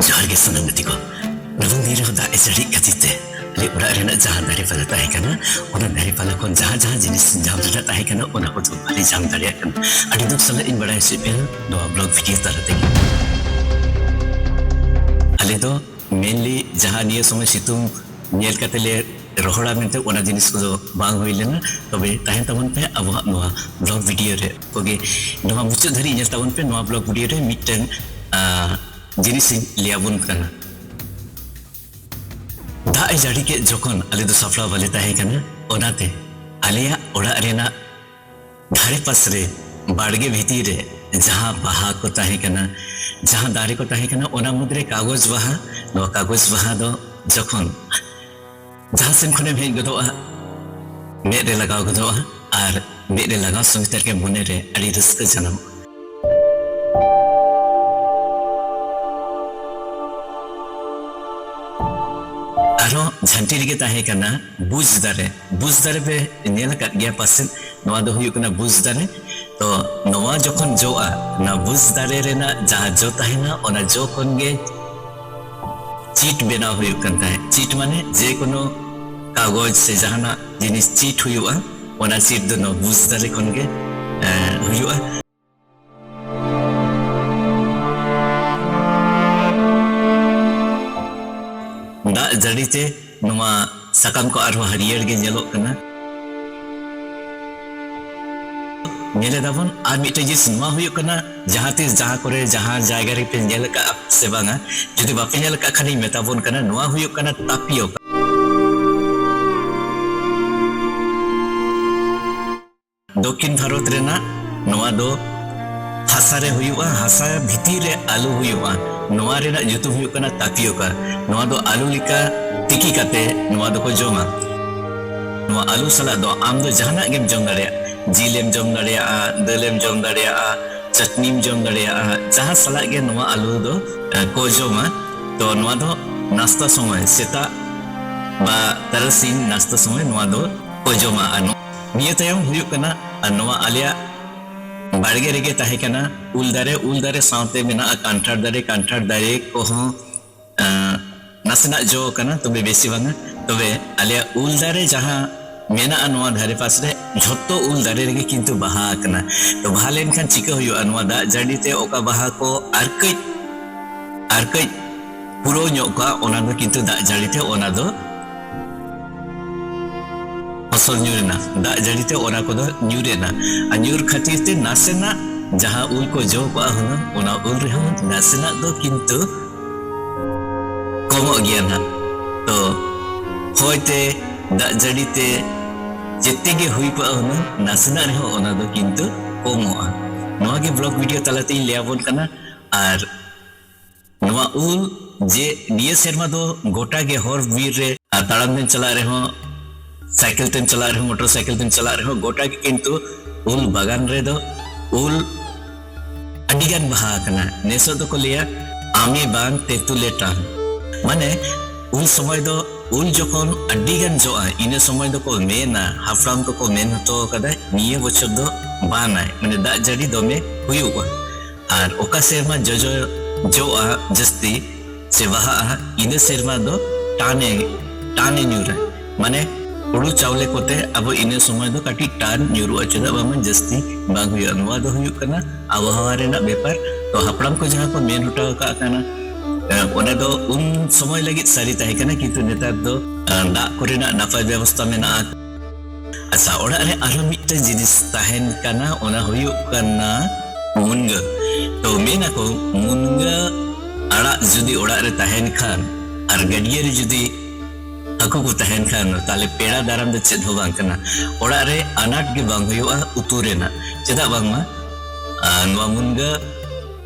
ᱡᱚᱦᱟᱨ ᱜᱮ ᱥᱟᱱᱟᱢ ᱜᱟᱛᱮ ᱠᱚ ᱱᱚᱣᱟ ᱫᱤᱱ ᱨᱮᱦᱚᱸ ᱫᱟᱜ ᱮ ᱡᱟᱹᱲᱤᱜ ᱠᱷᱟᱹᱛᱤᱨ ᱛᱮ ᱟᱞᱮ ᱚᱲᱟᱜ ᱨᱮᱱᱟᱜ ᱡᱟᱦᱟᱸ ᱫᱟᱨᱮ ᱯᱟᱞᱟ ᱛᱟᱦᱮᱸ ᱠᱟᱱᱟ ᱚᱱᱟ ᱫᱟᱨᱮ ᱯᱟᱞᱟ ᱠᱷᱚᱱ ᱡᱟᱦᱟᱸ ᱡᱟᱦᱟᱸ ᱡᱤᱱᱤᱥ ᱧᱟᱢ ᱨᱮᱱᱟᱜ ᱛᱟᱦᱮᱸ ᱠᱟᱱᱟ ᱚᱱᱟ ᱠᱚᱫᱚ ᱵᱟᱞᱮ ᱧᱟᱢ ᱫᱟᱲᱮᱭᱟᱜ ᱠᱟᱱᱟ ᱟᱹᱰᱤ ᱫᱩᱠ ᱥᱟᱞᱟᱜ ᱤᱧ ᱵᱟᱲᱟᱭ ᱦᱚᱪᱚᱭᱮᱫ ᱯᱮᱭᱟ ᱱᱚᱣᱟ ᱵᱞᱚᱜ ᱵᱷᱤᱰᱤᱭᱳ ᱛᱟᱞᱟ ᱛᱮᱜᱮ ᱟᱞᱮ ᱫᱚ ᱢᱮᱱᱞᱤ ᱡᱟᱦᱟᱸ ᱱᱤᱭᱟᱹ ᱥᱚᱢᱚᱭ ᱥᱤᱛᱩᱝ ᱧᱮᱞ ᱠᱟᱛᱮ ᱞᱮ ᱨᱚᱦᱚᱲᱟ ᱢᱮᱱᱛᱮ ᱚᱱᱟ ᱡᱤᱱᱤᱥ ᱠᱚᱫᱚ ᱵᱟᱝ ᱦᱩᱭ ᱞᱮᱱᱟ ᱛᱚᱵᱮ ᱛᱟᱦᱮᱱ ᱛᱟᱵᱚᱱ ᱯᱮ ᱟᱵᱚᱣᱟᱜ ᱱᱚᱣᱟ ᱵᱞᱚᱜ ᱵᱷᱤᱰᱤᱭᱳ ᱨᱮ ᱠᱚᱜᱮ ᱱᱚᱣᱟ ᱢᱩᱪᱟᱹᱫ ᱫᱷᱟᱹᱨᱤᱡ ᱧᱮᱞ ᱛᱟᱵᱚᱱ ᱯᱮ ᱱᱚᱣᱟ ᱵᱞᱚᱜ ᱵᱷᱤᱰᱤᱭᱳ ᱨᱮ ᱢᱤᱫᱴᱟᱝ ᱡᱤᱱᱤᱥ ᱤᱧ ᱞᱟᱹᱭ ᱟᱵᱚᱱ ᱠᱟᱱᱟ ᱫᱟᱜ ᱮ ᱡᱟᱹᱲᱤ ᱠᱮᱫ ᱡᱚᱠᱷᱚᱱ ᱟᱞᱮ ᱫᱚ ᱥᱟᱯᱲᱟᱣ ᱵᱟᱞᱮ ᱛᱟᱦᱮᱸ ᱠᱟᱱᱟ ᱚᱱᱟᱛᱮ ᱟᱞᱮᱭᱟᱜ ᱚᱲᱟᱜ ᱨᱮᱱᱟᱜ ᱫᱷᱟᱨᱮ ᱯᱟᱥ ᱨᱮ ᱵᱟᱲᱜᱮ ᱵᱷᱤᱛᱤᱨ ᱨᱮ ᱡᱟᱦᱟᱸ ᱵᱟᱦᱟ ᱠᱚ ᱛᱟᱦᱮᱸ ᱠᱟᱱᱟ ᱡᱟᱦᱟᱸ ᱫᱟᱨᱮ ᱠᱚ ᱛᱟᱦᱮᱸ ᱠᱟᱱᱟ ᱚᱱᱟ ᱢᱩᱫᱽ ᱨᱮ ᱠᱟᱜᱚᱡᱽ ᱵᱟᱦᱟ ᱱᱚᱣᱟ ᱠᱟᱜᱚᱡᱽ ᱵᱟᱦᱟ ᱫᱚ ᱡᱚᱠᱷᱚᱱ ᱡᱟᱦᱟᱸ ᱥᱮᱱ ᱠᱷᱚᱱᱮᱢ ᱦᱮᱡ ᱜᱚᱫᱚᱜᱼᱟ ᱢᱮᱫ ᱨᱮ ᱞᱟᱜᱟᱣ ᱜᱚᱫᱚᱜᱼᱟ ᱟᱨ ᱢᱮᱫ ᱨᱮ ᱞᱟᱜᱟᱣ ᱥᱚᱸᱜᱮ ᱛᱮᱜᱮ ᱢᱚᱱᱮ ᱨᱮ ᱟᱹᱰᱤ ᱨᱟᱹᱥᱠᱟᱹ ᱡᱟᱱᱟᱢᱚᱜᱼᱟ ᱟᱨᱦᱚᱸ ᱡᱷᱟᱹᱱᱴᱤ ᱨᱮᱜᱮ ᱛᱟᱦᱮᱸ ᱠᱟᱱᱟ ᱵᱩᱡᱽ ᱫᱟᱨᱮ ᱵᱩᱡᱽ ᱫᱟᱨᱮ ᱯᱮ ᱧᱮᱞ ᱟᱠᱟᱫ ᱜᱮᱭᱟ ᱯᱟᱥᱮᱫ ᱱᱚᱣᱟ ᱫᱚ ᱦᱩᱭᱩᱜ ᱠᱟᱱᱟ ᱵᱩᱡᱽ ᱫᱟᱨᱮ ᱛᱚ ᱱᱚᱣᱟ ᱡᱚᱠᱷᱚᱱ ᱡᱚᱜᱼᱟ ᱚᱱᱟ ᱵᱩᱡᱽ ᱫᱟᱨᱮ ᱨᱮᱱᱟᱜ ᱡᱟᱦᱟᱸ ᱡᱚ ᱛᱟᱦᱮᱱᱟ ᱚᱱᱟ ᱡᱚ ᱠᱷᱚᱱ ᱜᱮ ᱪᱤᱴ ᱵᱮᱱᱟᱣ ᱦᱩᱭᱩᱜ ᱠᱟᱱ ᱛᱟᱦᱮᱸᱫ ᱪᱤᱴ ᱢᱟᱱᱮ ᱡᱮᱠᱳᱱᱳ ᱠᱟᱜᱚᱡᱽ ᱥᱮ ᱡᱟᱦᱟᱱᱟᱜ ᱡᱤᱱᱤᱥ ᱪᱮᱫ ᱦᱩᱭᱩᱜᱼᱟ ᱚᱱᱟ ᱪᱮᱫ ᱫᱚ ᱱᱚᱣᱟ ᱵᱩᱡᱽ ᱫᱟᱲᱮ ᱠᱷᱚᱱ ᱜᱮ ᱦᱩᱭᱩᱜᱼᱟ ᱫᱟᱜ ᱡᱟᱹᱲᱤ ᱛᱮ ᱱᱚᱣᱟ ᱥᱟᱠᱟᱢ ᱠᱚ ᱟᱨᱦᱚᱸ ᱦᱟᱹᱨᱭᱟᱹᱲ ᱜᱮ ᱧᱮᱞᱚᱜ ᱠᱟᱱᱟ ᱧᱮᱞᱮᱫᱟᱵᱚᱱ ᱟᱨ ᱢᱤᱫᱴᱮᱱ ᱡᱤᱱᱤᱥ ᱱᱚᱣᱟ ᱦᱩᱭᱩᱜ ᱠᱟᱱᱟ ᱡᱟᱦᱟᱸ ᱛᱤᱥ ᱡᱟᱦᱟᱸ ᱠᱚᱨᱮ ᱡᱟᱦᱟᱸ ᱡᱟᱭᱜᱟ ᱨᱮᱯᱮ ᱧᱮᱞ ᱟᱠᱟᱫᱼᱟ ᱥᱮ ᱵᱟᱝᱟ ᱡᱩᱫᱤ ᱵᱟᱯᱮ ᱧᱮᱞ ᱟᱠᱟᱫ ᱠᱷᱟᱱᱤᱧ ᱢᱮᱛᱟ ᱵᱚᱱ ᱠᱟᱱᱟ ᱱᱚᱣᱟ ᱦᱩᱭᱩᱜ ᱠᱟᱱᱟ ᱛᱟᱯᱤᱭᱚᱠᱟ ᱫᱚᱠᱠᱷᱤᱱ ᱵᱷᱟᱨᱚᱛ ᱨᱮᱱᱟᱜ ᱱᱚᱣᱟ ᱫᱚ ᱦᱟᱥᱟ ᱨᱮ ᱦᱩᱭᱩᱜᱼᱟ ᱦᱟᱥᱟ ᱵᱷᱤᱛᱤᱨ ᱨᱮ ᱟᱞᱩ ᱦᱩᱭᱩᱜᱼᱟ ᱱᱚᱣᱟ ᱨᱮᱱᱟᱜ ᱧᱩᱛᱩᱢ ᱦᱩᱭᱩᱜ ᱠᱟᱱᱟ ᱛᱟᱯᱤᱭᱚᱠᱟ ᱱᱚᱣᱟ ᱫᱚ ᱟᱞᱩ ᱞᱮᱠᱟ ᱛᱤᱠᱤ ᱠᱟᱛᱮ ᱱᱚᱣᱟ ᱫᱚᱠᱚ ᱡᱚᱢᱟ ᱱᱚᱣᱟ ᱟᱞᱩ ᱥᱟᱞᱟᱜ ᱫᱚ ᱟᱢ ᱫᱚ ᱡᱟᱦᱟᱱᱟᱜ ᱜᱮᱢ ᱡᱚᱢ ᱫᱟᱲᱮᱭᱟᱜᱼᱟ ᱡᱤᱞᱮᱢ ᱡᱚᱢ ᱫᱟᱲᱮᱭᱟᱜᱼᱟ, ᱫᱟᱹᱞᱮᱢ ᱡᱚᱢ ᱫᱟᱲᱮᱭᱟᱜᱼᱟ, ᱪᱟᱹᱴᱱᱤᱢ ᱡᱚᱢ ᱫᱟᱲᱮᱭᱟᱜᱼᱟ, ᱡᱟᱦᱟᱸ ᱥᱟᱞᱟᱜ ᱜᱮ ᱱᱚᱣᱟ ᱟᱞᱩ ᱫᱚ ᱠᱚ ᱡᱚᱢᱟ᱾ ᱛᱚ ᱱᱚᱣᱟ ᱫᱚ ᱱᱟᱥᱛᱟ ᱥᱚᱢᱚᱭ ᱥᱮᱛᱟᱜ ᱵᱟ ᱛᱟᱨᱟᱥᱤᱧ ᱱᱟᱥᱛᱟ ᱥᱚᱢᱚᱭ ᱱᱚᱣᱟ ᱫᱚ ᱠᱚ ᱡᱚᱢᱟ᱾ ᱟᱨ ᱱᱤᱭᱟᱹ ᱛᱟᱭᱚᱢ ᱦᱩᱭᱩᱜ ᱠᱟᱱᱟ ᱟᱨ ᱱᱚᱣᱟ ᱟᱞᱮᱭᱟᱜ ᱵᱟᱲᱜᱮ ᱨᱮᱜᱮ ᱛᱟᱦᱮᱸ ᱠᱟᱱᱟ ᱩᱞ ᱫᱟᱨᱮ, ᱩᱞ ᱫᱟᱨᱮ ᱥᱟᱶᱛᱮ ᱢᱮᱱᱟᱜᱼᱟ ᱠᱟᱱᱴᱷᱟᱲ ᱫᱟᱨᱮ, ᱠᱟᱱᱴᱷᱟᱲ ᱫᱟᱨᱮ ᱠᱚᱦᱚᱸ ᱮᱸ ᱱᱟᱥᱮᱱᱟᱜ ᱡᱚ ᱠᱟᱱᱟ ᱛᱚᱵᱮ ᱵᱮᱥᱤ ᱵᱟᱝᱟ ᱛᱚᱵᱮ ᱟᱞᱮᱭᱟᱜ ᱩᱞ ᱫᱟᱨᱮ ᱡᱟᱦᱟᱸ ᱢᱮᱱᱟᱜᱼᱟ ᱱᱚᱣᱟ ᱫᱷᱟᱨᱮ ᱯᱟᱥᱮᱨᱮ ᱡᱷᱚᱛᱚ ᱩᱞ ᱫᱟᱨᱮ ᱨᱮᱜᱮ ᱠᱤᱱᱛᱩ ᱵᱟᱦᱟ ᱟᱠᱟᱱᱟ ᱛᱚ ᱵᱟᱦᱟ ᱞᱮᱱᱠᱷᱟᱱ ᱪᱤᱠᱟᱹ ᱦᱩᱭᱩᱜᱼᱟ ᱱᱚᱣᱟ ᱫᱟᱜ ᱡᱟᱹᱲᱤ ᱛᱮ ᱚᱠᱟ ᱵᱟᱦᱟ ᱠᱚ ᱟᱨ ᱠᱟᱹᱡ ᱟᱨ ᱠᱟᱹᱡ ᱯᱩᱨᱟᱹᱣ ᱧᱚᱜ ᱠᱚᱜᱼᱟ ᱚᱱᱟ ᱫᱚ ᱠᱤᱱᱛᱩ ᱫᱟᱜ ᱡᱟᱹᱲᱤ ᱛᱮ ᱚᱱᱟ ᱫᱚ ᱯᱷᱚᱥᱚᱞ ᱧᱩᱨ ᱮᱱᱟ ᱫᱟᱜ ᱡᱟᱹᱲᱤ ᱛᱮ ᱚᱱᱟ ᱠᱚᱫᱚ ᱧᱩᱨ ᱮᱱᱟ ᱟᱨ ᱧᱩᱨ ᱠᱷᱟᱹᱛᱤᱨ ᱛᱮ ᱱᱟᱥᱮᱱᱟᱜ ᱡᱟᱦᱟᱸ ᱩᱞ ᱠᱚ ᱡᱚ ᱠᱚᱜᱼᱟ ᱦᱩᱱᱟᱹᱝ ᱚᱱᱟ ᱩᱞ ᱨᱮᱦᱚᱸ ᱱᱟᱥᱮᱱᱟᱜ ᱫᱚ ᱠᱤᱱᱛᱩ ᱠᱚᱢᱚᱜ ᱜᱮᱭᱟ ᱱᱟᱦᱟᱜ ᱛᱚ ᱦᱚᱭ ᱛᱮ ᱫᱟᱜ ᱡᱟᱹᱲᱤ ᱛᱮ ᱡᱮᱛᱮ ᱜᱮ ᱦᱩᱭ ᱠᱚᱜᱼᱟ ᱦᱩᱱᱟᱹᱝ ᱱᱟᱥᱮᱱᱟᱜ ᱨᱮᱦᱚᱸ ᱚᱱᱟ ᱫᱚ ᱠᱤᱱᱛᱩ ᱠᱚᱢᱚᱜᱼᱟ ᱱᱚᱣᱟ ᱜᱮ ᱵᱞᱚᱜ ᱵᱷᱤᱰᱤᱭᱳ ᱛᱟᱞᱟᱛᱮᱧ ᱞᱟᱹᱭᱟᱵᱚᱱ ᱠᱟᱱᱟ ᱟᱨ ᱱᱚᱣᱟ ᱩᱞ ᱡᱮ ᱱᱤᱭᱟᱹ ᱥᱮᱨᱢᱟ ᱫᱚ ᱜᱚᱴᱟ ᱜᱮ ᱦᱚᱨ ᱵᱤᱨ ᱨᱮ ᱟᱨ ᱛᱟᱲᱟᱢ ᱛᱮᱢ ᱪᱟᱞᱟᱜ ᱨᱮᱦᱚᱸ ᱥᱟᱭᱠᱮᱞ ᱛᱮᱢ ᱪᱟᱞᱟᱜ ᱨᱮᱦᱚᱸ ᱢᱚᱴᱚᱨ ᱥᱟᱭᱠᱮᱞ ᱛᱮᱢ ᱪᱟᱞᱟᱜ ᱨᱮᱦᱚᱸ ᱜᱚᱴᱟ ᱜᱮ ᱠᱤᱱᱛᱩ ᱩᱞ ᱵᱟᱜᱟᱱ ᱨᱮᱫᱚ ᱩᱞ ᱟᱹᱰᱤ ᱜᱟᱱ ᱵᱟᱦᱟ ᱟᱠᱟᱱᱟ ᱱᱮᱥᱚᱜ ᱫᱚᱠᱚ ᱞᱟᱹᱭᱟ ᱟᱢᱮ ᱵᱟᱝ ᱛᱮᱛᱩᱞᱮ ᱴᱟᱝ ᱢᱟᱱᱮ ᱩᱱ ᱥᱚᱢᱚᱭ ᱫᱚ ᱩᱞ ᱡᱚᱠᱷᱚᱱ ᱟᱹᱰᱤ ᱜᱟᱱ ᱡᱚᱜᱼᱟ ᱤᱱᱟᱹ ᱥᱚᱢᱚᱭ ᱫᱚᱠᱚ ᱢᱮᱱᱟ ᱦᱟᱯᱲᱟᱢ ᱠᱚᱠᱚ ᱢᱮᱱ ᱦᱚᱴᱚ ᱟᱠᱟᱫᱟ ᱱᱤᱭᱟᱹ ᱵᱚᱪᱷᱚᱨ ᱫᱚ ᱵᱟᱱᱟᱭ ᱢᱟᱱᱮ ᱫᱟᱜ ᱡᱟᱹᱲᱤ ᱫᱚᱢᱮ ᱦᱩᱭᱩᱜᱼᱟ ᱟᱨ ᱚᱠᱟ ᱥᱮᱨᱢᱟ ᱡᱚᱡᱚ ᱡᱚᱜᱼᱟ ᱡᱟᱹᱥᱛᱤ ᱥᱮ ᱵᱟᱦᱟᱜᱼᱟ ᱤᱱᱟᱹ ᱥᱮᱨᱢᱟ ᱫᱚ ᱴᱟᱱᱮ ᱴᱟᱱᱮ ᱧᱩᱨᱟ ᱢᱟᱱᱮ ᱦᱩᱲᱩ ᱪᱟᱣᱞᱮ ᱠᱚᱛᱮ ᱟᱵᱚ ᱤᱱᱟᱹ ᱥᱚᱢᱚᱭ ᱫᱚ ᱠᱟᱹᱴᱤᱡ ᱴᱟᱱ ᱧᱩᱨᱩᱜᱼᱟ ᱪᱮᱫᱟᱜ ᱵᱟᱝᱢᱟ ᱡᱟᱹᱥᱛᱤ ᱵᱟᱝ ᱦᱩᱭᱩᱜᱼᱟ ᱱᱚᱣᱟ ᱫᱚ ᱦᱩᱭᱩᱜ ᱠᱟᱱᱟ ᱟᱵᱚᱦᱟᱣᱟ ᱨᱮᱱᱟᱜ ᱵᱮᱯᱟᱨ ᱛᱚ ᱦᱟᱯᱲᱟᱢ ᱠᱚ ᱡᱟᱦᱟᱸ ᱠᱚ ᱢᱮᱱ ᱦᱚᱴᱚ ᱟᱠᱟᱫ ᱠᱟᱱᱟ ᱚᱱᱟ ᱫᱚ ᱩᱱ ᱥᱚᱢᱚᱭ ᱞᱟᱹᱜᱤᱫ ᱥᱟᱹᱨᱤ ᱛᱟᱦᱮᱸ ᱠᱟᱱᱟ ᱠᱤᱱᱛᱩ ᱱᱮᱛᱟᱨ ᱫᱚ ᱫᱟᱜ ᱠᱚᱨᱮᱱᱟᱜ ᱱᱟᱯᱟᱭ ᱵᱮᱵᱚᱥᱛᱟ ᱢᱮᱱᱟᱜᱼᱟ ᱟᱪᱪᱷᱟ ᱚᱲᱟᱜ ᱨᱮ ᱟᱨᱚ ᱢᱤᱫᱴᱮᱱ ᱡᱤᱱᱤᱥ ᱛᱟᱦᱮᱱ ᱠᱟᱱᱟ ᱚᱱᱟ ᱦᱩᱭᱩᱜ ᱠᱟᱱᱟ ᱢᱩᱱᱜᱟᱹ ᱛᱚ ᱢᱮᱱᱟᱠᱚ ᱢᱩᱱᱜᱟᱹ ᱟᱲᱟᱜ ᱡᱩᱫᱤ ᱚᱲᱟᱜ ᱨᱮ ᱛᱟᱦᱮᱱ ᱠᱷᱟᱱ ᱟᱨ ᱜᱟᱹᱰᱭᱟᱹ ᱨᱮ ᱡᱩᱫᱤ ᱦᱟᱹᱠᱩ ᱠᱚ ᱛᱟᱦᱮᱱ ᱠᱷᱟᱱ ᱛᱟᱦᱞᱮ ᱯᱮᱲᱟ ᱫᱟᱨᱟᱢ ᱫᱚ ᱪᱮᱫ ᱦᱚᱸ ᱵᱟᱝ ᱠᱟᱱᱟ ᱚᱲᱟᱜ ᱨᱮ ᱟᱱᱟᱴ ᱜᱮ ᱵᱟᱝ ᱦᱩᱭᱩᱜᱼᱟ ᱩᱛᱩ ᱨᱮᱱᱟᱜ ᱪᱮᱫᱟᱜ ᱵᱟᱝᱢᱟ ᱱᱚᱣᱟ ᱢᱩᱱᱜᱟᱹ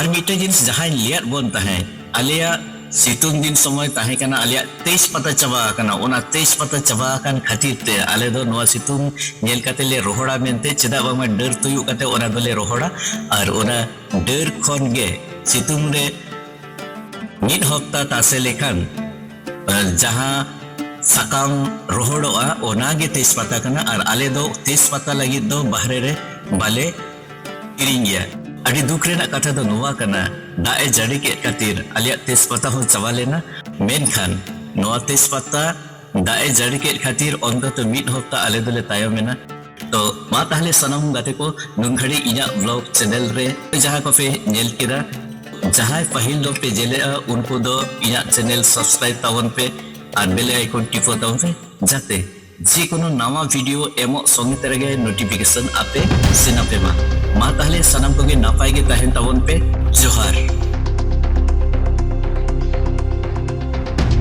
ᱟᱨ ᱢᱤᱫᱴᱮᱱ ᱡᱤᱱᱤᱥ ᱡᱟᱦᱟᱸᱭ ᱞᱟᱹᱭᱟᱫ ᱵᱚᱱ ᱛᱟᱦᱮᱸᱫ ᱟᱞᱮᱭᱟᱜ ᱥᱤᱛᱩᱝ ᱫᱤᱱ ᱥᱚᱢᱚᱭ ᱛᱟᱦᱮᱸ ᱠᱟᱱᱟ ᱟᱞᱮᱭᱟᱜ ᱛᱮᱡᱽ ᱯᱟᱛᱟ ᱪᱟᱵᱟ ᱟᱠᱟᱱᱟ ᱚᱱᱟ ᱛᱮᱡᱽ ᱯᱟᱛᱟ ᱪᱟᱵᱟ ᱟᱠᱟᱱ ᱠᱷᱟᱹᱛᱤᱨ ᱛᱮ ᱟᱞᱮ ᱫᱚ ᱱᱚᱣᱟ ᱥᱤᱛᱩᱝ ᱧᱮᱞ ᱠᱟᱛᱮ ᱞᱮ ᱨᱚᱦᱚᱲᱟ ᱢᱮᱱᱛᱮ ᱪᱮᱫᱟᱜ ᱵᱟᱝᱢᱟ ᱰᱟᱹᱨ ᱛᱩᱭᱩ ᱠᱟᱛᱮ ᱚᱱᱟ ᱫᱚᱞᱮ ᱨᱚᱦᱚᱲᱟ ᱟᱨ ᱚᱱᱟ ᱰᱟᱹᱨ ᱠᱷᱚᱱ ᱜᱮ ᱥᱤᱛᱩᱝ ᱨᱮ ᱢᱤᱫ ᱦᱚᱯᱛᱟ ᱛᱟᱥᱮ ᱞᱮᱠᱷᱟᱱ ᱡᱟᱦᱟᱸ ᱥᱟᱠᱟᱢ ᱨᱚᱦᱚᱲᱚᱜᱼᱟ ᱚᱱᱟ ᱜᱮ ᱛᱮᱡᱽ ᱯᱟᱛᱟ ᱠᱟᱱᱟ ᱟᱨ ᱟᱞᱮ ᱫᱚ ᱛᱮᱡᱽ ᱯᱟᱛᱟ ᱞᱟᱹᱜᱤᱫ ᱫᱚ ᱵᱟᱦᱨᱮ ᱨᱮ ᱵᱟᱞᱮ ᱠᱤᱨᱤᱧ ᱜᱮᱭᱟ ᱟᱹᱰᱤ ᱫᱩᱠ ᱨᱮᱱᱟᱜ ᱠᱟᱛᱷᱟ ᱫᱚ ᱱᱚᱣᱟ ᱠᱟᱱᱟ ᱫᱟᱜ ᱮ ᱡᱟᱹᱲᱤ ᱠᱮᱫ ᱠᱷᱟᱹᱛᱤᱨ ᱟᱞᱮᱭᱟᱜ ᱛᱮᱡᱽ ᱯᱟᱛᱟ ᱦᱚᱸ ᱪᱟᱵᱟ ᱞᱮᱱᱟ ᱢᱮᱱᱠᱷᱟᱱ ᱱᱚᱣᱟ ᱛᱮᱡᱽ ᱯᱟᱛᱟ ᱫᱟᱜ ᱮ ᱡᱟᱹᱲᱤ ᱠᱮᱫ ᱠᱷᱟᱹᱛᱤᱨ ᱚᱱᱛᱚᱛᱚ ᱢᱤᱫ ᱦᱚᱯᱛᱟ ᱟᱞᱮ ᱫᱚᱞᱮ ᱛᱟᱭᱚᱢ ᱮᱱᱟ ᱛᱚ ᱢᱟ ᱛᱟᱦᱚᱞᱮ ᱥᱟᱱᱟᱢ ᱜᱟᱛᱮ ᱠᱚ ᱱᱩᱱ ᱜᱷᱟᱹᱲᱤᱡ ᱤᱧᱟᱹᱜ ᱵᱞᱚᱜ ᱪᱮᱱᱮᱞ ᱨᱮ ᱡᱟᱦᱟᱸ ᱠᱚᱯᱮ ᱧᱮᱞ ᱠᱮᱫᱟ ᱡᱟᱦᱟᱸᱭ ᱯᱟᱹᱦᱤᱞ ᱫᱚ ᱯᱮ ᱧᱮᱞᱮᱜᱼᱟ ᱩᱱᱠᱩ ᱫᱚ ᱤᱧᱟᱹᱜ ᱪᱮᱱᱮᱞ ᱥᱟᱵᱥᱠᱨᱟᱭᱤᱵ ᱛᱟᱵᱚᱱ ᱯᱮ ᱟᱨ ᱵᱮᱞᱮ ᱟᱭᱠᱚᱱ ᱴᱤᱯᱟᱹ ᱛᱟᱵᱚᱱ ᱯᱮ ᱡᱟᱛᱮ ᱡᱮ ᱠᱳᱱᱳ ᱱᱟᱣᱟ ᱵᱷᱤᱰᱤᱭᱳ ᱮᱢᱚᱜ ᱥᱚᱸᱜᱮ ᱛᱮ ᱨᱮᱜᱮ ᱱᱳᱴᱤᱯᱷᱤᱠᱮᱥᱚᱱ ᱟᱯᱮ ᱥᱮᱱ ᱟᱯᱮ ᱢᱟ ᱢᱟ ᱛᱟᱦᱚᱞᱮ ᱥᱟᱱᱟᱢ ᱠᱚᱜᱮ ᱱᱟᱯᱟᱭ ᱜᱮ ᱛᱟᱦᱮᱱ ᱛᱟᱵᱚᱱ ᱯᱮ ᱡᱚᱦᱟᱨ